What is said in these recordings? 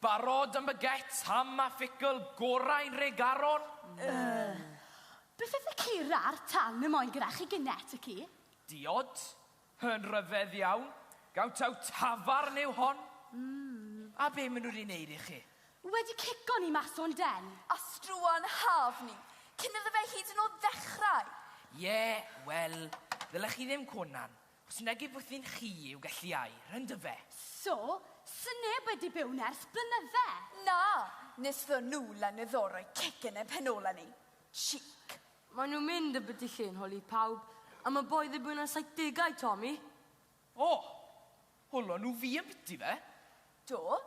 Barod am baguette ham a phicl gorau'n Nhregaron? Yy. Beth yw cur a'r tan y moyn gyda chi gyne ty ci? Diod. Yn rhyfedd iawn. Gawn taw tafarn yw hon? Mm. A be maen nhw wedi wneud i chi? Wedi cico ni mas o'n den. A struan haf ni, cyn iddo fe hyd yn oed ddechrau! Ie, wel, ddylech chi ddim conan. Os nag yw bwthyn chi i'w gellu ai, rhan dy fe. So, sy neb wedi byw nerth blynydde? Na, nes ddo nhw lan y ddo roi cegin yn pen ola ni. Chic. Mae nhw mynd yn byti lle yn holi pawb, a mae boi ddibwyn ar saithdegau, Tommy. O! Holon nhw fi yn byti fe? Do,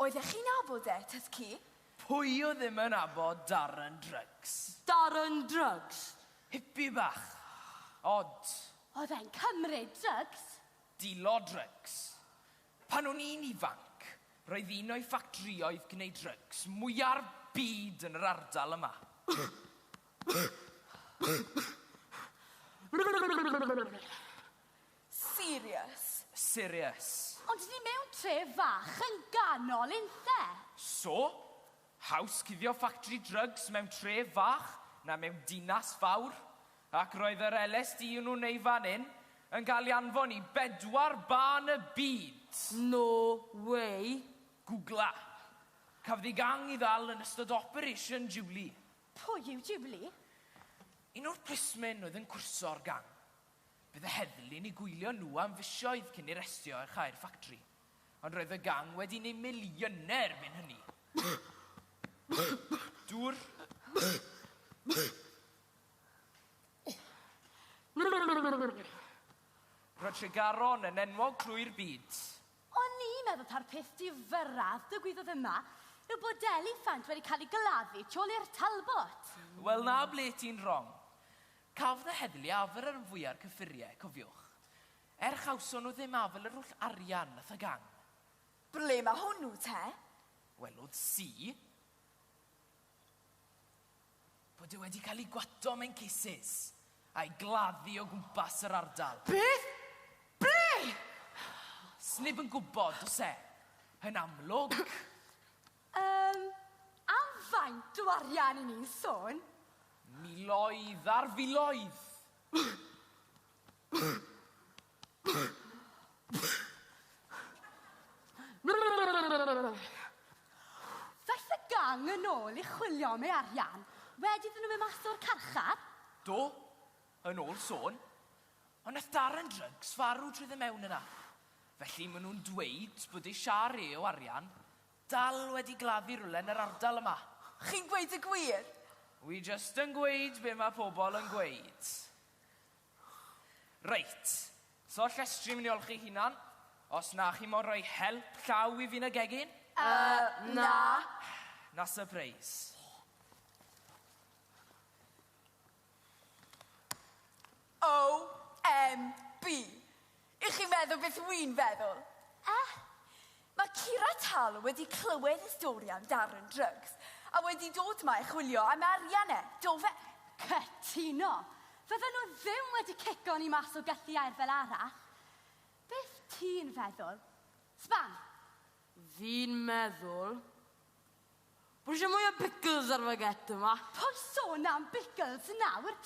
oeddech chi'n nabod e, tŷth ci? Pwy oedd ddim yn nabod Darren Drugs? Darren Drugs? Hippie bach. Odd. Oedd e'n cymryd drygs? Dilo drygs. Pan o'n i'n ifanc, roedd un o'i ffactrïoedd gwneud drygs mwya'r byd yn yr ardal yma. Serious. Serious. Ond ni mewn tre fach yn ganol unthe. So? Haws cuddio ffactri drygs mewn tre fach na mewn dinas fawr. Ac roedd yr LSD o'n nhw'n ei fan hyn yn cael ei anfon i bedwar bân y byd! No way! Gwgla. Cafodd ei gang i ddal yn ystod Operation Julie. Pwy yw Julie? Un o'r plismyn oedd yn cwrso'r gang. Bydd y heddlu'n eu gwylio nhw am fisoedd cyn i'r estio ar chau'r ffactri, ond roedd y gang wedi neud miliynau erbyn hynny. Dŵr? Roedd Tregaron yn enwog trwy'r byd. O'n i'n meddwl ta'r peth difyrraf ddigwyddodd yma yw bod Deli Ffant wedi cael ei gladdu tu ôl i'r Talbot. Wel, 'na ble ti'n wrong. Caf na heddlu afl ar fwya'r cyffuriau, cofiwch. Er chawson nhw ddim afl yr holl arian nath a gang. Ble ma hwnnw te? Wel, oedd si. Bod e wedi cael ei gwato mewn cases, a'i gladdu o gwmpas yr ardal. Beth? Ble? Sneb yn gwybod, does e? Yn amlwg. Yym, am faint o arian i ni'n sôn? Miloedd ar filoedd! Ddaeth y gang yn ôl i chwilio am ei arian wedi iddyn nhw mynd mas o'r carchar. Do, yn ôl sôn. Ond nath Darren Drugs farw trwy ddod mewn yna. Felly ma' nhw'n dweud bod eisiau re o arian Dal wedi gladdu rywle yn yr ardal yma. Chi'n gweud y gwir? Wi jyst yn gweud be ma pobl yn gweud. Reit, so llestri mnyol chi hunan, os na chi mo'n rhoi help llaw i fi yn y gegin? Yy, na. Na sypreis. OMB! Y'ch chi'n meddwl beth wi'n feddwl? Eh? Mae Kira Tal wedi clywed y stori am Darren Drugs a wedi dod ma i chwilio am arian e, do fe? Cytuno! Fydden nhw ddim wedi cico ni mas o gylliau'r fel arall. Beth ti'n feddwl? Sban? Fi'n meddwl Dwi isio mwy o pickles ar fy get yma. Paid sôn am bickles nawr!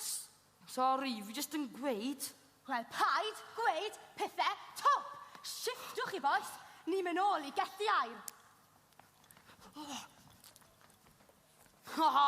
Sori, fi jyst yn gweud. Wel, paid gweud pethe twp! Shiftwch chi bois, ni'n myn' nôl i gellu air. Ha ha!